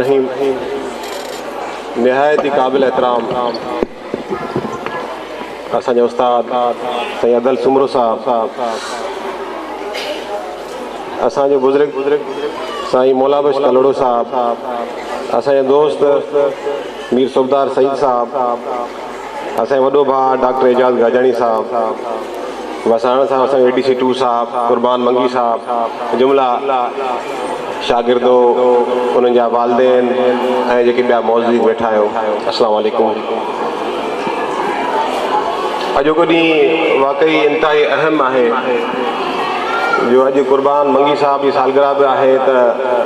رحيم نهايت ئي قابل احترام اسان جا استاد سائين ادل سومرو صاحب اسان جو بزرگ سائين مولا بخش ڪلهوڙو صاحب اسان جا دوست مير صوبدار سعيد صاحب اسان جي وڏو ڀاء ڊاڪٽر اعجاز گاجاڻي صاحب، وساڻ صاحب، اسان جو اي ڊي سي ٽو صاحب، قربان منگي صاحب، جملا شاگردو، انهن جا والدين ۽ جيڪي ٻيا معززين ويٺا آهيو، السلام عليڪم. اڄوڪو ڏينهن واقعي انتهائي اهم آهي جو اڄ قربان منگي صاحب جي سالگرهه به آهي ته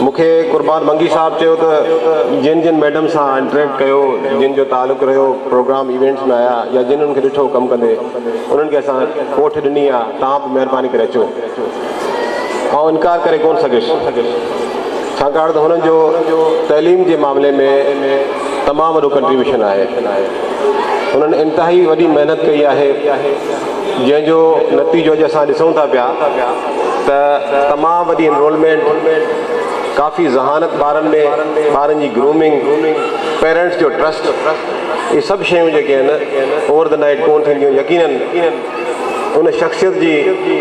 مون کي قربان منگي صاحب چيو ته جن جن ميڊم سان انٽريڪٽ ڪيو، جن جو تعلق رهيو پروگرام ايونٽس ۾ آيا يا جن انهن کي ڏٺو ڪم ڪندي انهن کي اسان ڪوٺ ڏني آ توهان به مهرباني ڪري اچو. آئون انڪار ڪري ڪونه سگهيس ڇاڪاڻ ته هنن جو تعليم جي معاملي ۾ تمام وڏو ڪنٽريبيوشن آهي. هنن انتهائي وڏي محنت ڪئي آهي جنهن جو نتيجو اڄ اسان ڏسون ٿا پيا. ته تمام وڏي انرولمينٽ، ڪافي ذهانت ٻارن ۾، ٻارن جي گرومنگ، پيرنٽس جو ٽرسٽ اهي سڀ شيون جيڪي آهن اوور دي نائيٽ ڪونه ٿينديون يقينن ان شخصيت جي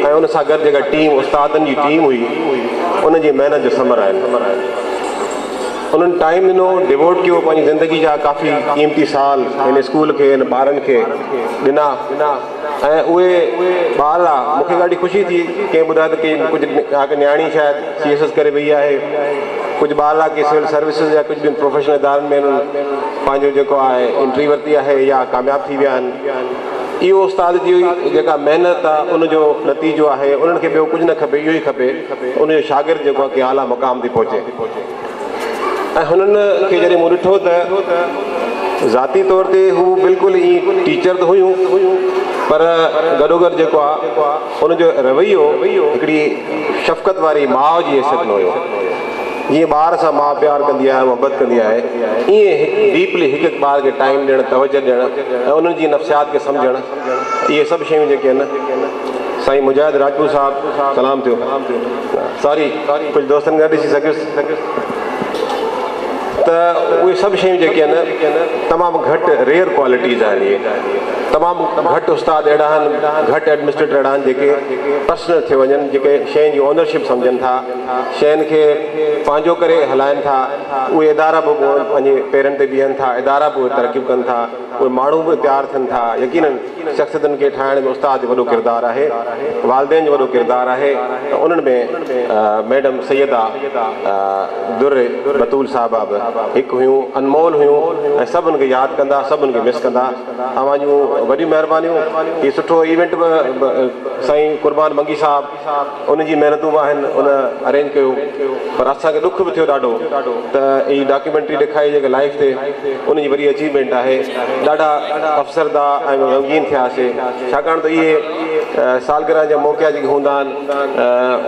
۽ ان سان گڏ جيڪا ٽيم استادن جي ٽيم هئي ان جي محنت جو ثمر آهن انهن ٽائيم ڏنو ڊيووٽ ڪيو پنهنجي زندگي جا ڪافي قيمتي سال هن اسڪول کي هن ٻارن کي ڏنا. ۽ اهي ٻال آ مون کي ڏاڍي خوشي ٿي ڪنهن ٻڌايو ته ڪي ڪجهه ڪا نياڻي شايد سي ايس ايس ڪري وئي آهي ڪجهه ٻال آ ڪي سول سروسز يا ڪجهه ٻين پروفيشنل ادارن ۾ انهن پنهنجو جيڪو آهي انٽري ورتي آهي يا ڪامياب ٿي ويا آهن اهو استاد جي جيڪا محنت آ ان جو نتيجو آهي انهن کي ٻيو ڪجهه نه کپي اهو ئي کپي ان جو شاگرد جيڪو آ ڪي اعليٰ مقام تي پهچي ۽ هنن کي جڏهن مون ڏٺو ته ذاتي طور تي هو بلڪل ئي ٽيچر ته هيون پر گڏوگڏ جيڪو آ ان جو رويو هڪڙي شفقت واري ماء جي حيثيت ۾ هيو. جيئن ٻار سان ماء پيار ڪندي آهي محبت ڪندي آهي ائين هڪ ڊيپلي هڪ هڪ ٻار کي ٽائيم ڏيڻ توجه ڏيڻ ۽ انهن جي نفسيات کي سمجهڻ اهي سڀ شيون جيڪي آهن سائين مجاهد راڄپور صاحب سلام ٿيو. ساري ڪجهه دوستن کي نه ڏسي سگهيس ته اهي سڀ شيون جيڪي آهن تمام گهٽ ريئر ڪوالٽيز آهن اهي تمام گهٽ استاد اهڙا آهن گهٽ ايڊمنسٽريٽر اهڙا آهن جيڪي پرسنل ٿي وڃن جيڪي شين جي اونرشپ سمجهن ٿا شين کي پنهنجو ڪري هلائن ٿا اهي ادارا به پنهنجي پيرن تي بيهن ٿا ادارا به ترقيون ڪن ٿا اهي ماڻهو به تيار ٿين ٿا. يقينن شخصيتن کي ٺاهڻ ۾ استاد جو وڏو ڪردار آهي، والدين جو وڏو ڪردار آهي ته انهن ۾ ميڊم سيده در بتول صاحبه به هڪ هيون، انمول هيون ۽ سڀ ان کي ياد ڪندا، سڀ ان کي مس ڪندا. اوهان جون وڏيون مهربانيون. هي سٺو ايونٽ به سائين قربان منگي صاحب. ان جي محنتون به آهن ان ارينج ڪيو پر اسان کي ڏک به ٿيو ڏاڍو ته هي ڊاڪيومينٽري ڏيکاري جيڪا لائيف تي ان جي وڏي اچيومينٽ آهي ڏاڍا افسرده ۽ غمگين ٿياسي ڇاڪاڻ ته اهي سالگرهه جا موقعا جيڪي هوندا آهن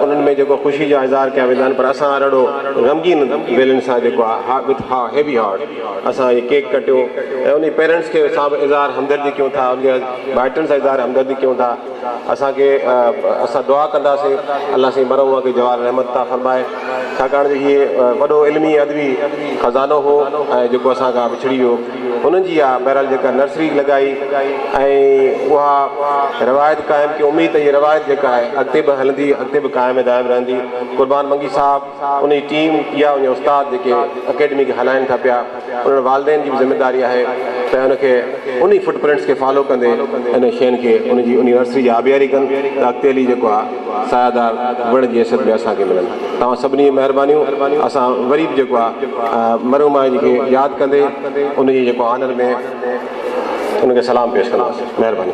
انهن ۾ جيڪو خوشي جا اظهار ڪيا ويندا آهن پر اسان هر اهڙو غمگين ويلن سان جيڪو آهي وٿ ها هيوي هارٽ اسان هي ڪيڪ ڪٽيو ۽ انهي پيرنٽس کي سان به اظهار همدردي ڪيون ٿا ان جي ڀائٽن سان اظهار همدردي ڪيون ٿا. اسان کي اسان دعا ڪنداسين الله سائين مرحوم کي جوار رحمت عطا فرمائي ڇاڪاڻ جو هي وڏو علمي ادبي خزانو هو ۽ جيڪو اسان کان وڇڙي ويو انهن جي اها بهرحال جيڪا نرسري لڳائي ۽ اها روايت قائم ڪيون اميد ته هي روايت جيڪا آهي اڳتي به هلندي اڳتي به قائم ۽ دائم رهندي قربان منگي صاحب انهي ٽيم يا انهي استاد جيڪي اڪيڊمي کي هلائين ٿا پيا انهن والدين جي به ذميواري آهي ته ان کي انهي فٽ پرنٽس کي فالو ڪندي انهن شين کي ان جي انهي نرسري جي آبياري ڪن ته اڳتي هلي جيڪو آ سايه دار وڻ جي حيثيت ۾ اسان کي ملن توهان سڀني جي مهربانيون اسان وري به جيڪو آ مرحوم آهي جن کي ياد ڪندي ان جي جيڪو آنر ۾ ان کي سلام پيش ڪنداسين مهرباني.